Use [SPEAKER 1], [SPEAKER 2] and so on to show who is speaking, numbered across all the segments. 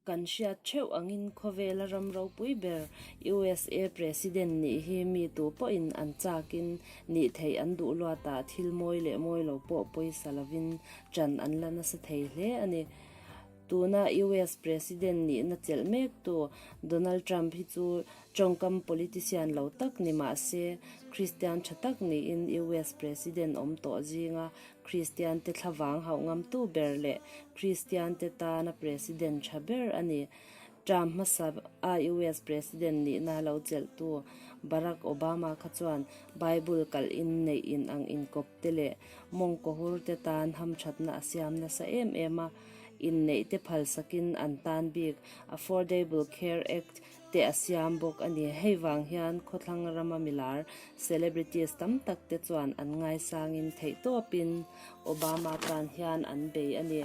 [SPEAKER 1] Kan hriat theuh angin khawvela ram ropui ber usa president nih hi mi tu pawhin an chak in nih theih an duh luat ah thil mawi leh mawi lo pawh pawisa lovin chan an la nasa thei hle a ni. Tuna US President nihna chelh mek tu Donald Trump hi chu tawngkam politician lo tak ni mah se, Kristian tha tak niin US President awm tawh zinga Kristiante thlavang hauh ngamtu ber leh Kristiante tana President tha ber a ni. Trump hmasa a US President nihna lo chelhtu Barack Obama kha chuan Bible kalh in neih in ang inkawp te leh mawng cohur te tan ham thatna a siam nasa em em a, inneih te phalsak in an tan bik Affordable Care Act te a siam bawk a ni. Hei vang hian khawthlang rama milar celebrities tam tak te chuan an ngaisang in theihtawp in Obama tan hian an bei a ni.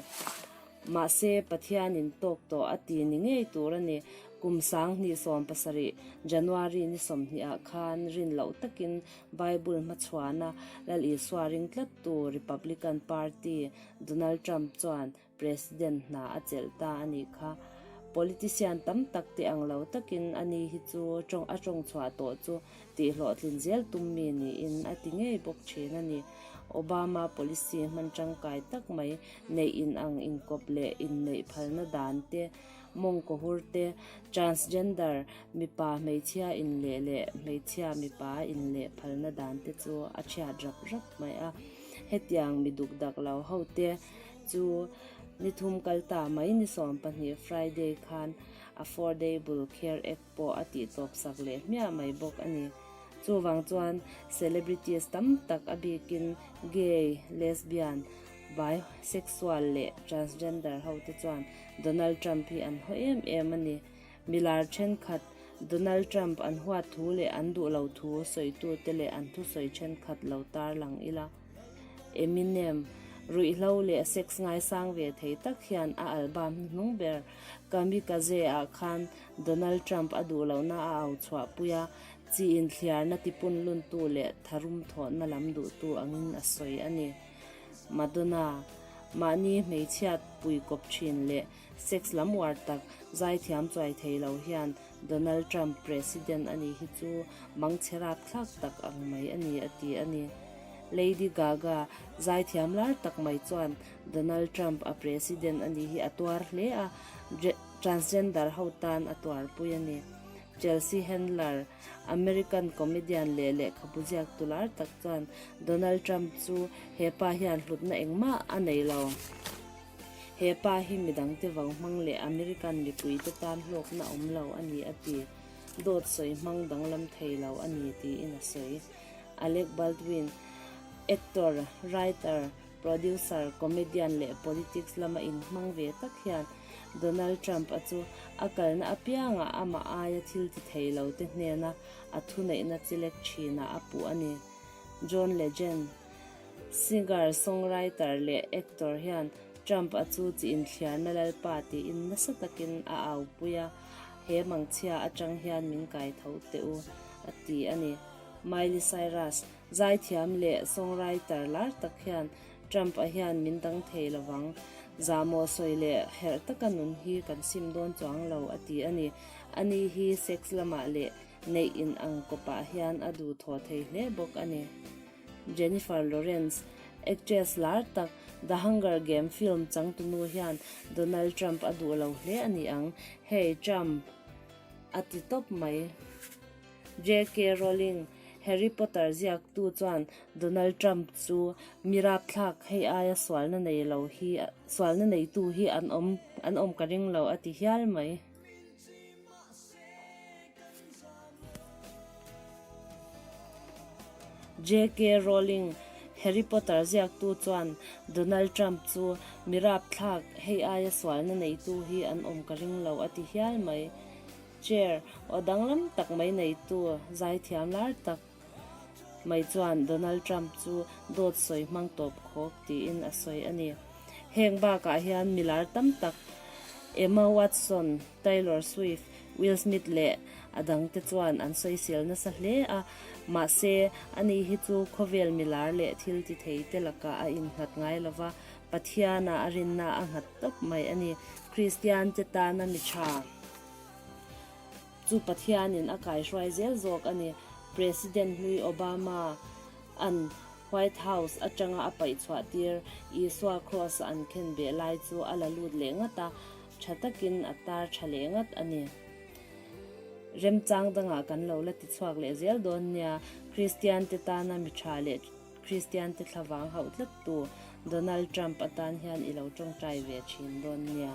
[SPEAKER 1] Mahse, Pathianin tawk tawh a ti ni ngei tur a ni. Kum sang hnih sawm pasarih, January ni sawmhnih ah khan rin loh takin Bible hmachhuahna Lal Isua ring tlattu Republican Party Donald Trump chuan President hna a chelh ta a nih kha. Politician tam tak tih ang lo takin ani hi chu a tawngchhuah tawh chu tih hlawhtlin zel tum mi niin a ti ngei bawk thin a ni. Obama policy hman tangkai tak mai, neih in ang inkawp leh in neih phalna dan te, mawng cohur te, transgender, mipa hmeichhia in leh leh hmeichhia mipa in leh phalna dan te chu a thiat rap rap mai a. Hetiang mi dukdak lo ho te chu ni thum kal ta mai ni sawm pahnih Friday khan Affordable Care Act, pawh a tih chawpsak leh hmiah mai bawk a ni. Chuvang chuan celebrities tam tak a bikin gay, lesbian, bi, sexual leh transgender hote chuan Donald Trump hi an haw em em a ni. Milar thenkhat Donald Trump an huat thu leh an duh lo thu sawitute leh an thusawi thenkhat lo tarlang ila. Eminem, ruihhlo leh sex ngaisang ve thei tak hian a album hi hnung ber. Kamikaze ah khan Donald Trump a duh lohna a au chhuah pui a, chi inthliarna tipun luntu leh tharum thawhna lam duhtu angin a sawi a ni. Madonna, mahni hmeichhia pui kawp thin leh Sex lam uar tak zai thiam chuai thei lo hian Donald Trump President a nih hi chu mangchhe rap thlak tak ang mai a ni a ti a ni. Lady Gaga zai thiam lar tak mai chuan Donald Trump a President a nih hi a tuar hle a, Transgender ho tan a tuarpui a ni. Chelsea Handler, American comedian leh lehkhabu ziaktu lar tak chuan Donald Trump chu hepa hian hlutna engmah a nei lo. He pa hi midang te vau hmang leh American mipui te tan hlawkna awm lo a ni a ti. Dawt sawi hmang danglam thei lo a ni tiin a sawi. Alec Baldwin, actor, writer, producer, comedian leh politics lama inhmang ve tak hian Donald Trump-a chu a kalna apiangah amah aia thil ti thei lote hnena a thuneihna chi lek thinah a puh a ni. John Legend. Singer, songwriter leh actor hian Trump a chu chi inthliarna lalpa tiin nasa takin a aupui a, He mangchhia atang hian min kai tho teh u, a ti a ni. Miley Cyrus, zaithiam leh songwriter lar tak hian Trump a hian min dang thei lo vang. Zahmawh sawi leh herh taka nun hi kan sim dawn chuang lo, a ti a ni. A ni hi sex lamah leh neih in ang kawpah hian a duh thawh thei hle bawk a ni. Jennifer Lawrence, actress lar tak The Hunger Game film changtunu hian Donald Trump a duh lo hle a ni ang. Hei Trump a ti tawp mai. JK Rowling, Harry Potter ziaktu chuan Donald Trump chu mirap thlak hei aia sualna nei lo hi sualna neitu hi an awm an awm ka ring lo a ti hial mai. Min chi mah se kan za maw. JK Rowling, Harry Potter ziaktu chuan Donald Trump chu mirap thlak hei aia sualna neitu hi an awm ka ring lo a ti hial mai. Chair, Aw danglam tak mai neitu, zaithiam lar tak. mai chuan Donald Trump chu dawt sawi hmang tawp khawp tiin a sawi a ni. Heng bakah hian mi lar tam tak Emma Watson, Taylor Swift, Will Smith leh a dangte chuan an sawisil nasa hle a, mahse anih hi chu khawvel mi lar leh thiltithei te lakah a innghat ngai lova, Pathiana a rinna a nghat tawp mai a ni. Kristiante tana mi tha Chu Pathianin a kaihruai zel zawk a ni. President hnui Obama-a'n White House atanga a paih chhuah tir Isua Kraws-a an khen beh lai chu a la lut leh ngat a, tha takin a tar tha leh ngat a ni. Remchang dangah kan lo la ti chhuak leh zel dawn nia, Kristiante tana mi tha leh Kristiante thla vang hauh tlat tu Donald Trump atan hian i lo tawngtai ve thin dawn nia.